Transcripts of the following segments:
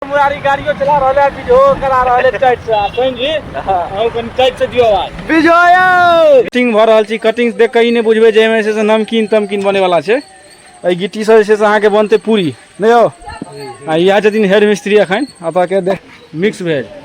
मुरारी गाड़ियों चला रहा है वीडियो करा रहा है टाइट से सुन जी हम कन टाइट से दियो आवाज विजयो कटिंग भ रहल छी कटिंग देख के ई नै बुझबे जे एमे से से नमकीन तमकीन बने वाला छै ए गिट्टी से जे छै से अहाँ के बनते पूरी नै यौ आ इहा छथिन हेड मिस्त्री अखन अतः के देख मिक्स भेज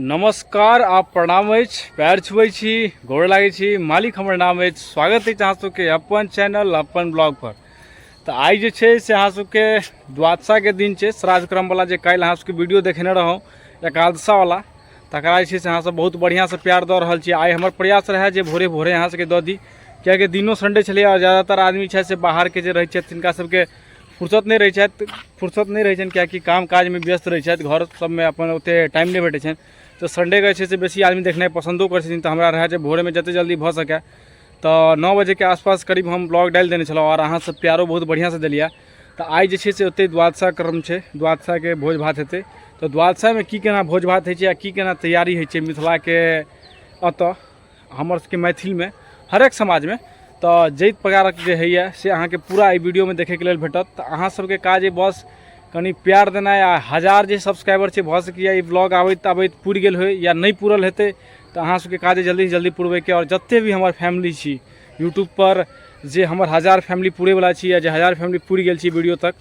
नमस्कार आ प्रणाम अछि पैर छुबै छी गोर लागै छी मालिक हमर नाम अछि स्वागत अछि अहाँ सबके अपन चैनल अपन ब्लॉग पर तऽ आइ जे छै से अहाँ सबके द्वादशाके दिन छै श्राद्धक्रमवला जे काल्हि अहाँ सबके वीडियो देखेने रहौँ एकादशावला तकरा जे छै से अहाँसब बहुत बढ़िआँसँ प्यार दऽ रहल छी आइ हमर प्रयास रहै जे भोरे भोरे अहाँ सबके दऽ दी किएकि दिनो सन्डे छलै आओर जादातर आदमी छथि से बाहरके जे रहै छथि तिनका सबके फुर्सत नहि रहै छथि फुर्सत नहि रहै छनि किएकि काम काजमे व्यस्त रहै छथि घर सबमे अपन ओते टाइम नहि भेटै छनि तऽ सन्डेके छै से बेसी आदमी देखनाइ पसन्दो करै छथिन तऽ हमरा रहै जे भोरेमे जते जल्दी भऽ सकै तऽ नओ बजेके आसपास करीब हम ब्लॉग डालि देने छलहुँ आओर अहाँ सब प्यारो बहुत बढ़िआँसँ देलियै तऽ आइ जे छै से ओते द्वादशा क्रम छै द्वादशाके भोज भात हेतै तऽ द्वादशामे की केना भोज भात होइ छै आ की केना तैयारी होइ छै मिथिलाके एतऽ हमर सबके मैथिल में हर एक समाज में तो जैत प्रकार के है ये से अहाँ के पूरा एहि वीडियो में देखे के लिए भेटत तो अहाँ सबके काज है बस कनी प्यार देना या हजार जे सब्सक्राइबर है भऽ सकैए ई ब्लॉग आबैत आबैत पूर गेल हो या नहीं पूरल हेतै तो अहाँ सबके काज जल्दी से जल्दी पूरबे के और जते भी हमारे फैमिली छी यूट्यूब पर जे हमर हजार फैमिली पूरे वाला छी या जे हजार फैमिली पूर गेल छी वीडियो तक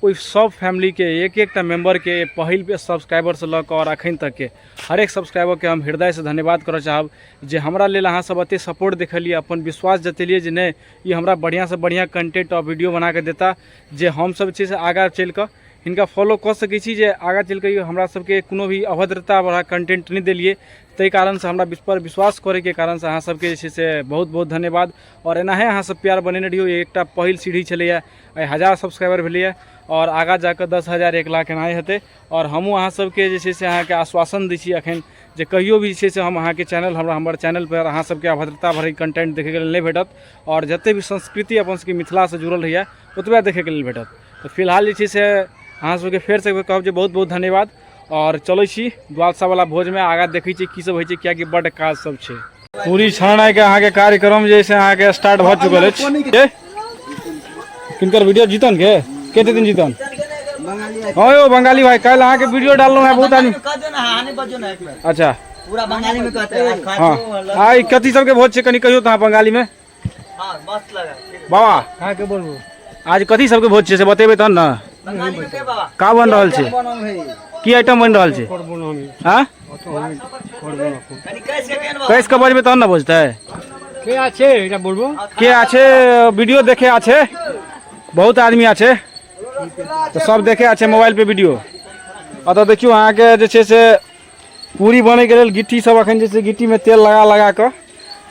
ओहि सब फैमिली के एक एकटा मेम्बर के पहिल सब्सक्राइबर से लऽ कऽ और अखन तक के हर एक सब्सक्राइबर के हम हृदय से धन्यवाद करऽ चाहब जे हमरा लेल अहाँ सब एते सपोर्ट देखलिए अपन विश्वास जतेलिए जे नहीं ये हमरा बढ़िया से बढ़िया कंटेंट और वीडियो बना के देता जे हम सब छै से आगा चल के इनका फॉलो कर सके छी जे आगा चल के हमरा सब के कोनो भी अभद्रता वाला कंटेंट नहीं दिलिए ताहि कारण से हमरा पर विश्वास करे के कारण से अहाँ सब के छै से बहुत बहुत धन्यवाद और एनाहे अहाँ सब प्यार बनेने रहियो एक एकटा पहिल सीढ़ी छलैया हजार सब्सक्राइबर भेलैया और आगा जाकर दस हजार एक लाख एनाहे हेतै आओर हमहूँ अहाँ सबके जे छै से अहाँके आश्वासन दै छी एखन जे कहियो भी जे छै से हम अहाँके चैनल हमरा हमर चैनल पर अहाँ सबके अभद्रता भरैके कंटेंट देखैके लेल नहि भेटत आओर जते भी संस्कृति अपन सबके मिथिलासँ जुड़ल रहैया ओतबे देखैके लेल भेटत तऽ फिलहाल जे छै से अहाँ सबके फेर से कहब जे बहुत बहुत धन्यवाद आओर चलै छी द्वादशावला भोजमे आगाँ देखै छी की सब होइ छै किएकि बड्ड काज सब छै पूरी छाना के अहाँ के कार्यक्रम जे से अहाँ के स्टार्ट भ चुकल अछि के किनकर वीडियो जीतन के कते दिन जीतन हां यो बंगाली भाई कल अहाँ के वीडियो डाललो है बहुत आदमी कह दे ना हानि बजो ना एक बेर अच्छा पूरा बंगाली में कहते हैं हाँ आ ई कथी सबके भोज छै कनि कहियो तऽ अहाँ बंगाली में बाबा कहाँ के बोलबो आज कथी सबके भोज छै से बतेबै तहन ने का बन रहल छै की आइटम बनि रहल छै करबो ना हमी हाँ अतो हमी करबो ना कुछ कैस के बजबै तहन ने बुझतै के आछे एटा बोलबो के आछे वीडियो देखे आछे बहुत आदमी आछे तऽ सब देखे आछे मोबाइल पे वीडियो अतऽ देखियौ अहाँके जे छै से पूरी बनैके लेल गिट्टी सब अखन जे छै गिट्टीमे तेल लगा लगा कऽ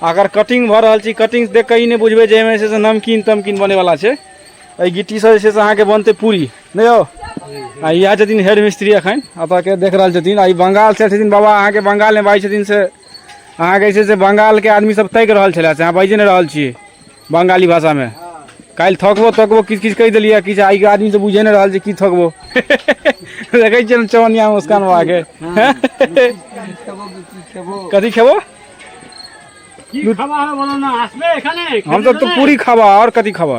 अगर कटिंग भऽ रहल छी कटिंग देख कऽ ई नहि बुझबै जे एहिमे जे छै से नमकीन तमकीन बनेवला छै एहि गिट्टीसँ जे छै से अहाँके बनतै पूरी नहि यौ आ इएह छथिन हेड मिस्त्री एखन एतऽके देख रहल छथिन आ ई बंगालसँ छथिन बाबा अहाँके बंगालमे बाजै छथिन से अहाँके जे छै से बंगालके आदमी सब ताकि रहल छलै से अहाँ बाजि नहि रहल छियै बंगाली भाषा में काल्हि थकबो तकबो किछु किछु कहि देलियै किछु आइ आदमी तऽ बुझे नहि रहल छै की थकबो देखै छियै चौनिया मुस्कान बाबा के कथी खेबो हम सब तो पूरी खाबा और कथी खाबा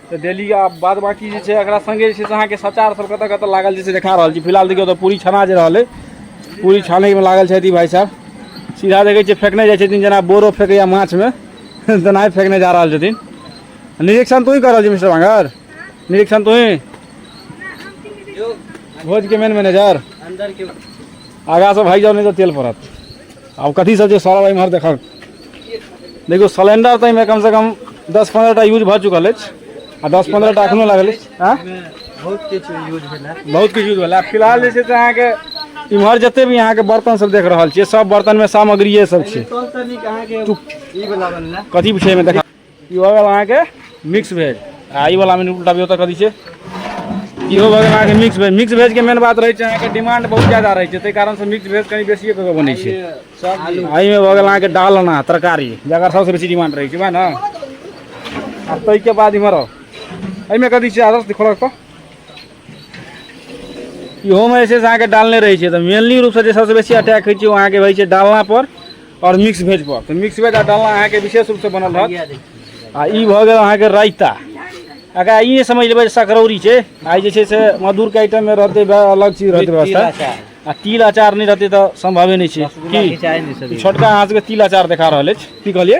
तऽ डेली आब बाद बाकी जे छै एकरा सङ्गे जे छै से अहाँके सचार सब कतऽ कतऽ लागल जे छै देखा रहल छी फिलहाल देखियौ तऽ पूरी छना जे रहल अइ पूरी छानैमे लागल छथि ई भाइ साहब सीधा देखै छियै फेकने जाइ छथिन जेना बोरो फेकैया माछमे तेनाहि फेकने जा रहल छथिन निरीक्षण तोही कर रहल छी मिस्टर बांगर निरीक्षण तोही भोजके मेन मैनेजर आगासँ भागि जाउ नहि तऽ तेल पड़त आब कथी सब छै सौरभ एम्हर देखक देखियौ सिलेंडर तऽ एहिमे कमसँ कम दस पन्द्रह टा यूज भऽ चुकल अछि आ दस पन्द्रह टा एखनो लागल अछि आँय? बहुत किछु यूज भेलै बहुत किछु यूज भेलै आ फिलहाल जे छै से अहाँके इम्हर जते भी अहाँके बर्तन सब देख रहल छियै सब बर्तनमे सामग्रिये सब छै तनिक अहाँके ई बला बनलै कथी छै एहिमे देखा ई भऽ गेल अहाँके मिक्स भेज आ ई वाला मेनू उल्टा भी ओतऽ कऽ दी छै इहो भऽ गेल अहाँके मिक्स भेज मिक्स भेजके मेन बात रहै छै अहाँके डिमांड बहुत ज्यादा रहै छै ताहि कारणसँ मिक्स भेज कनि बेसिए कऽ के बनै छै एहिमे भऽ गेल अहाँके डालना तरकारी जकर सभसँ बेसी डिमांड रहै छै वएह ने आ ताहिके बाद इम्हर आउ। एहिमे कथी छै आदर्श देखो रखतो इहो में जे छै से अहाँके डालने रहै छै तऽ मेनली रूपसँ जे सबसँ बेसी अटैक होइ छै ओ अहाँके होइ छै डालना पर आओर मिक्स भेज पर तऽ मिक्स भेज आ डालना अहाँके विशेष रूपसँ बनल रहत आ ई भऽ गेल अहाँके रायता एकरा ई नहि समझ लेबै जे सकरौरी छै आ ई जे छै से मधुरके आइटममे रहतै बा- अलग चीज रहतै व्यवस्था आ तिल अचार नहि रहतै तऽ सम्भवे नहि छै की छोटका अहाँ सबके तिल अचार देखा रहल अछि की कहलियै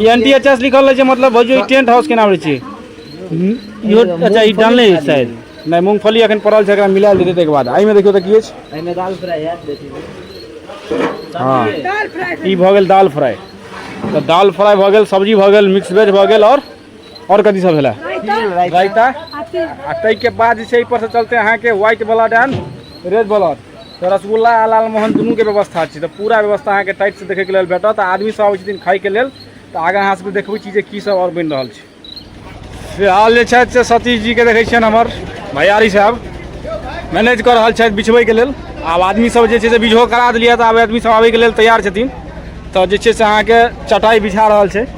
ई एन टी एच एस लिखल रहै छै मतलब भौजी ई टेंट हाउस केना रहै छै इहो अच्छा ई डालने अछि शायद नहि मूंगफली एखन पड़ल छै एकरा मिला देतै ताहिके बाद एहिमे देखियौ तऽ की अछि एहिमे दाल फ्राई हैत बेटी हँ ई भऽ गेल दाल फ्राई तऽ दाल फ्राई भऽ गेल सब्जी भऽ गेल मिक्स वेज भऽ गेल आओर और कथी सब भेला रायता आ तई के बाद जे छै पर से चलते अहाँ के white blood and red blood तो रसगुल्ला आ लाल मोहन दुनू के व्यवस्था छै तो पूरा व्यवस्था अहाँ के टाइट से देखे के लेल भेटत आदमी सब आबै छथिन खाय के लेल तो आगे अहाँ सब देखबै छी जे की सब और बन रहल छै फिलहाल जे छथि से सतीश जी के देखै छियन हमर भैयारी साहब मैनेज कर रहल छथि बिछबै के लेल आब आदमी सब जे छै से बिझो करा देलियै तऽ आब आदमी सब आबै के लेल तैयार छथिन तऽ जे छै से अहाँके चटाइ बिछा रहल छै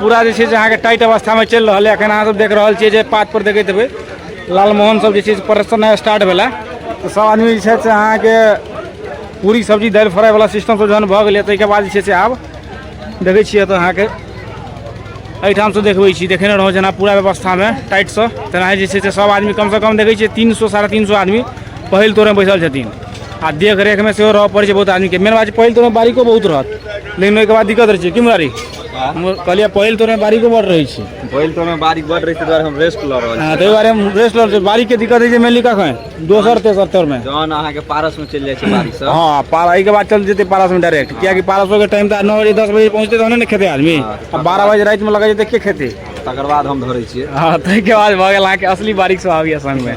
पूरा जे छै से अहाँके टाइट अवस्थामे चलि रहल यऽ एखन अहाँ सब देख रहल छियै जे पात पर देखैत हेबै लालमोहन सब जे छै से प्रदर्शन स्टार्ट भेला तऽ सब आदमी जे छै से अहाँके पूरी सब्जी दालि फ्राई वाला सिस्टम सब जहन भऽ गेलै ताहिके बाद जे छै से आब देखै छियै तऽ अहाँके एहिठामसँ देखबै छी देखेने रहौं जेना पूरा व्यवस्थामे टाइटसँ तेनाही जे छै से सब आदमी कमसँ कम देखै छियै तीन सौ साढ़े तीन सौ आदमी पहिल तोरमे बैसल छथिन आ देखरेखमे सेहो रहऽ पड़ै छै बहुत आदमीके मेन बात छै पहिल तोरमे बारीको बहुत रहत लेकिन ओहिके बाद दिक्कत रहै छै की मुरारी कहलियै पहिल तोरे बारीको बड़ रहै छै पहिल तोरे बारीक बड़ रहै छै दुआरे हम रेस्ट लऽ रहल छी ताहि दुआरे हम रेस्ट लऽ रहल छी बारीक के दिक्कत होइ छै मेनली कखन दोसर तेसर तौर मे जहन अहाँ के पारस में चलि जाइ छै बारिश सब हां पारा एहि के बाद चल जेतै पारस में डायरेक्ट किया कि पारसो के टाइम त 9 बजे 10 बजे पहुंचते तहने ने खेते आदमी अब 12 बजे रात में लगा जेतै के खेते तकर बाद हम धरै छियै हां ताहि के बाद भऽ गेल अहाँ के असली बारीक सब आबैया संग में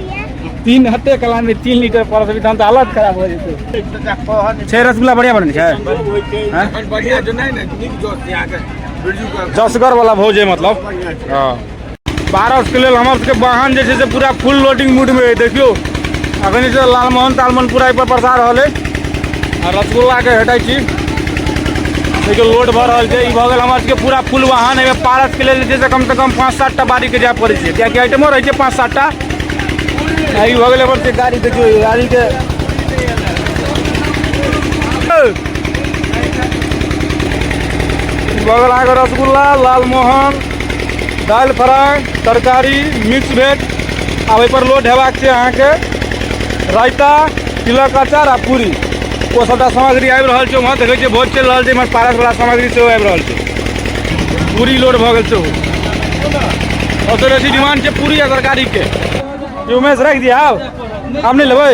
तीन हते कला में तीन लीटर पड़ सकते तहन तो हालत खराब हो जेतै छै रसगुल्ला बढ़िया बनै छै हैं? एखन बढ़िया जो नहीं ने नीक जोर से आके बिरजू का जसगर वाला भोज है मतलब हाँ पारस के लेल हमर सबके वाहन जे छै से पूरा फुल लोडिंग मूड में है देखियो अखन जे छै लालमोहन तालमोहन पूरा एहि पर बरसा रहल है आ रसगुल्लाके हटै छी देखियो लोड भऽ रहल छै ई भऽ गेल हमर सबके पूरा फुल वाहन एहिमे पारसके लेल जे छै से कमसँ कम पाँच सात टा बारीके जाय पड़ै छै किएकि आइटमो रहै छै पाँच सात टा आ ई भऽ गेल हमर सबके गाड़ी देखियौ ई गाड़ीके ई भऽ गेल अहाँके रसगुल्ला लालमोहन दालि फ्राई तरकारी मिक्स वेज आ ओहिपर लोड हेबाक छै अहाँके रायता तिलक अचार आ पूरी ओ सभटा सामग्री आबि रहल छै वहाँ देखै छियै भोज चलि रहल छै इम्हर पारसवला सामग्री सेहो आबि रहल छै पूरी लोड भऽ गेल छै सबसँ बेसी डिमांड छै पूरी आ तरकारीके उमेश राखि दिया आब आब नहि लेबै